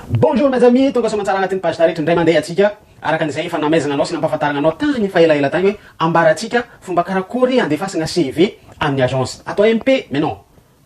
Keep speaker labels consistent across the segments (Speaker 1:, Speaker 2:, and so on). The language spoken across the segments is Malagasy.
Speaker 1: Bonjour mes amis, tonga soamantsara anatin'ny page taretra indray mandeha atsika araka ny izay efa namaizana anao sy nampahafantarana anao tany fa elaela tany hoe ambara atsika fomba karakory andefasana CV amin'ny agence ato MP mais non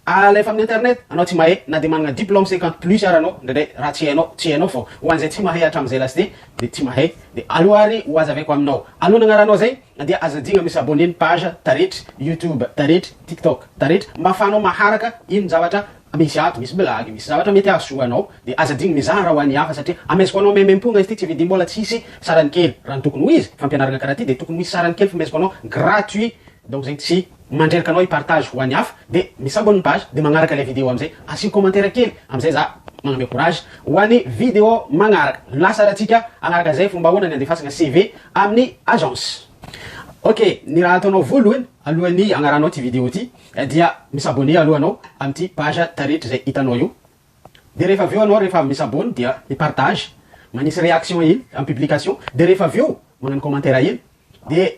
Speaker 1: alefa amin'ny internet anao tsy mahay na dia manana diplome cinquante plus ara anao indraindray raha tsy hainao tsy hainao fô ho an'izay tsy mahay hatramin'izay lasite dia tsy mahay dia aleo ary ho azaveko aminao aloha nagnaranao zay dia aza adino mi s'abonner ny page taretra youtube taretra tiktok taretra mba afahanao maharaka ino zavatra Misy ato, misy blague, misy zavatra mety hahasoa anao dia aza adino mizara ho an'ny hafa satria ameziko anao maimaimpongna izy ity tsy vidim bola tsisy sarany kely raha ny tokony ho izy fampianaragna karaha ty dia tokony ho hisy sarany kely fomeziko anao gratuit donc zegny tsy mandreraka anao hipartage ho an'ny hafa dia mi-s'abonne ny page dia magnaraka ilay vidéo amizay asio commentaire kely amizay za magname courage ho an'ny vidéo magnaraka lasa ratsika agnaraka zay fombahoana ny andefasagna CV amin'ny agence ok ny raha ataonao voalohany alohan'ny agnaranao ty vidéo ty Dia mi-s'abonner aloha anao amin'ity page taretra izay hitanao io. Dia rehefa avy eo anao rehefa mi-s'abonne dia mi-partage, manisy réaction iny amin'ny publication, dia rehefa avy eo manano commentaire iny dia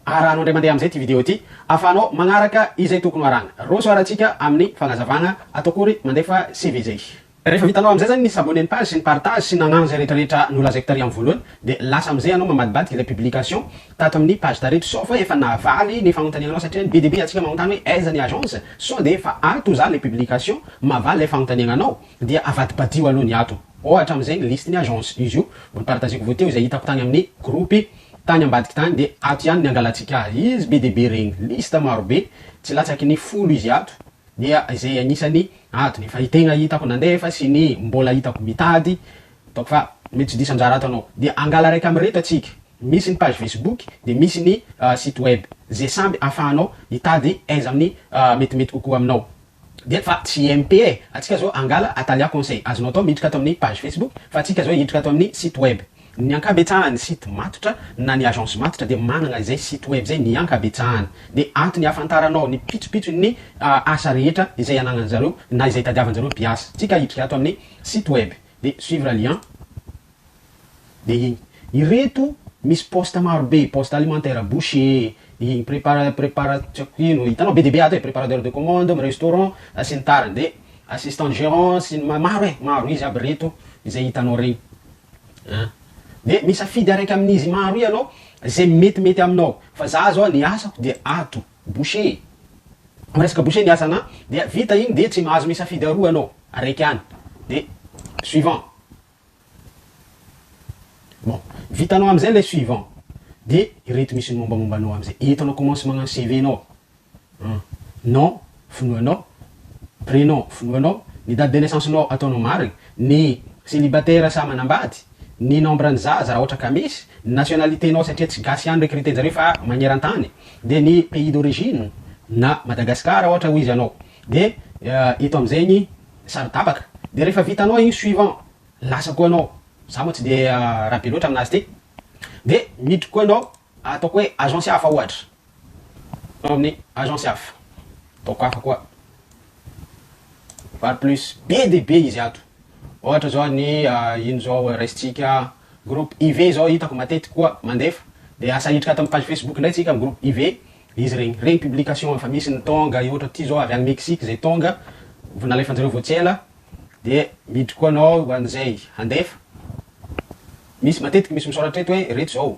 Speaker 1: arahanao indray mandeha amin'izay ity vidéo ity ahafahanao magnaraka izay tokony ho arahana. Roso ara-tsika amin'ny fagnazavagna ato akory mandefa CV izay. Rehefa vitanao amin'izay izany ny s'abonner ny page sy ny partage sy nagnano izay rehetra rehetra nolazaiko tary amin'ny voalohany dia lasa amin'izay ianao mamadibadiky ilay publication tato amin'ny page tareto sao fa efa nahavaly ny fanontaniananao satria ny be dia be antsika manontany hoe aiza ny agence sao dia efa ato za ilay publication mahavaly ilay fanontaniananao dia avadibadio aloha ny ato ohatra amin'izay ny liste ny agence izy io mbo nipartageko vao teo izay hitako tany amin'ny groupe tany ambadiky tany dia ato ihany ny angalantsika azy izy be dia be regny liste marobe tsy latsaky ny folo izy ato dia izay anisany ady efa hitena hitako nandefa sy ny mbola hitako mitady ataoko fa mety tsy diso anjara ato anao dia angala raika amireto atsika misy ny page facebook dia misy ny site web ze samby afahanao hitady aiza aminy metimety kokoa aminao dia fa tsy MP e atsika zao angala atalia conseil azonao atao miditra ato aminy page facebook fa atsika zao hiditra ato aminy site web Ny ankabetsahan'ny site matotra na ny agence matotra dia manana izay site web izay ny ankabetsahany. Dia ato ny ahafantaranao ny pitsopitson'ny asa rehetra izay ananan'ny zareo na izay tadiavan'ny zareo mpiasa. Tsika hiditra ato amin'ny site web dia suivre lien dia iny. Ireto misy poste maro be, poste alimentaire, boucher, iny prépara- prépara- tsy haiko ino, hitanao be dia be ato e, préparateur de commande, restaurant sy ny tariny. Dia assistant gérant sy ny, maro e, maro, izy aby ireto izay hitanao ireny. An! Dia misafidy araiky amin'izy maro ianao izay metimety aminao. Fa za zao ny asako dia ato, boucher. Am resaka boucher ny asanà dia vita iny dia tsy mahazo misafidy aroa anao, araiky any. Dia suivant. Bon, vitanao amzay ilay suivant. Dia ireto misy ny mombamomba anao amzay. Eto anao commence magnano CV-nao. Hum. Nom, finoanao. Prénom, finoanao. Ny date de naissance nao ataonao marigny. Ny célibataire sa manambady. Ny nombre ny zaza raha ohatra ka misy. Ny nationalité nao satria tsy gasy ihany recruter-njareo fa magneran-tany. Dia ny pays d'origine na Madagascar raha ohatra hoizy anao. Dia eto amizay ny saro-tapaka. Dia rehefa vitanao igny suivant. Lasa koa anao. Za moa tsy dia raha be loatra aminazy ty. Dia miditry koa anao. Ataoko hoe agence hafa ohatra. Ao amin'ny agence hafa. Ataoko hafa koa. Var plus. Be dia be izy ato. Ohatra zao ny ino zao raisintsika groupe iv zao hitako matetika koa mandefa. Dia asa hiditra ato amin'ny page facebook indray tsika groupe iv. Izy regny. Regny publication efa misy ny tonga i ohatra ty zao avy any Mexique zay tonga. Vao nalefanjareo vao tsy ela. Dia miditra koa anao an'izay handefa. Misy matetika misy misaoratra eto hoe reto zao.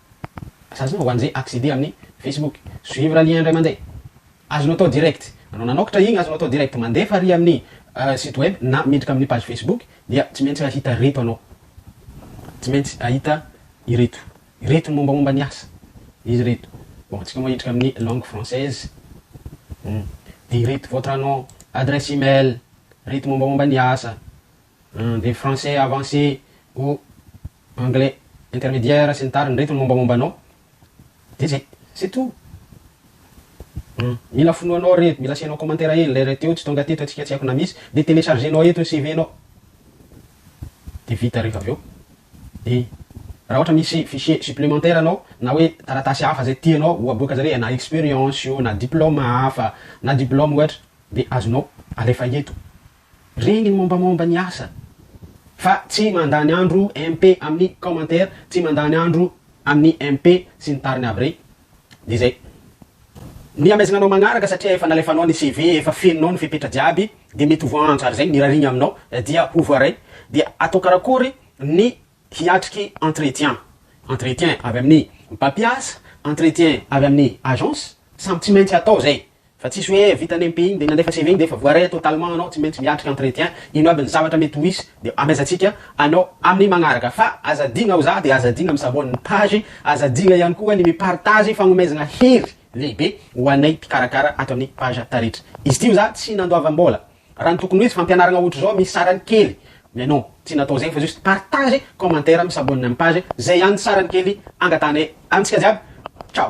Speaker 1: Asazefa hoan'ze acceder amin'ny Facebook, suivre lien indray mandeha. Azonao atao direct. Anao nanoktra igny azonao atao direct. Mandefa ary amin'ny site web na miditra amin'ny page Facebook dia tsy maintsy hahita reto anao. Tsy maintsy hahita ireto. Ireto ny mombamomba ny asa. Izy ireto. Bon, tsika moa hiditra amin'ny langue française. Hum. Dia ireto, votre nom, adresse email, reto mombamomba ny asa. Hum, dia français avancé ou anglais intermédiaire sy ny tariny reto ny mombamomba anao de zay c'est tout hum mila fonoanao re mila asianao commentaire hely le reto tsy tonga teto atsika tsy haiko na misy de télécharger nao eto ny CV nao de vita refa avy eo de raha ohatra misy fichier supplémentaire anao na hoe taratasy hafa zay tianao ho aboaka zare na expérience io na diplôme hafa na diplôme ohatra de azonao alefa eto Reny ny mombamomba ny asa fa tsy mandany andro MP amin'ny commentaire tsy mandany andro amin'ny MP sy ny tariny aby rey de zay ny hamaizina anao magnaraka satria efa nalefanao ny CV efa fenonao ny fepetra jiaby de mety ho voaantso ary zay ny rariny aminao dia ho voaray dia atao karakory ny hiatriky entretien entretien avy amin'ny mpampiasa entretien avy amin'ny agence samy tsy maintsy atao zay Fa tsisy hoe vita ny MPIny dia nandefa CV-ny dia efa voaray totalement anao, tsy maintsy miatrika entretien, ino aby ny zavatra mety ho hisy dia amezantsika anao amin'ny magnaraka. Fa aza adino ao za dia aza adino mi s'abonne ny page, aza adino ihany koa ny mi partage fagnomezana hery lehibe ho anay mpikarakara ato amin'ny page Taretra izy ity, za tsy nandoavam-bola raha ny tokony ho izy fampianaragna ohatr'izao misy sarany kely mais non tsy natao zegny fa juste partage, commentaire, mi s'abonne amin'ny page, zay ihany ny sarany kely angatahanay amintsika jiaby, ciao.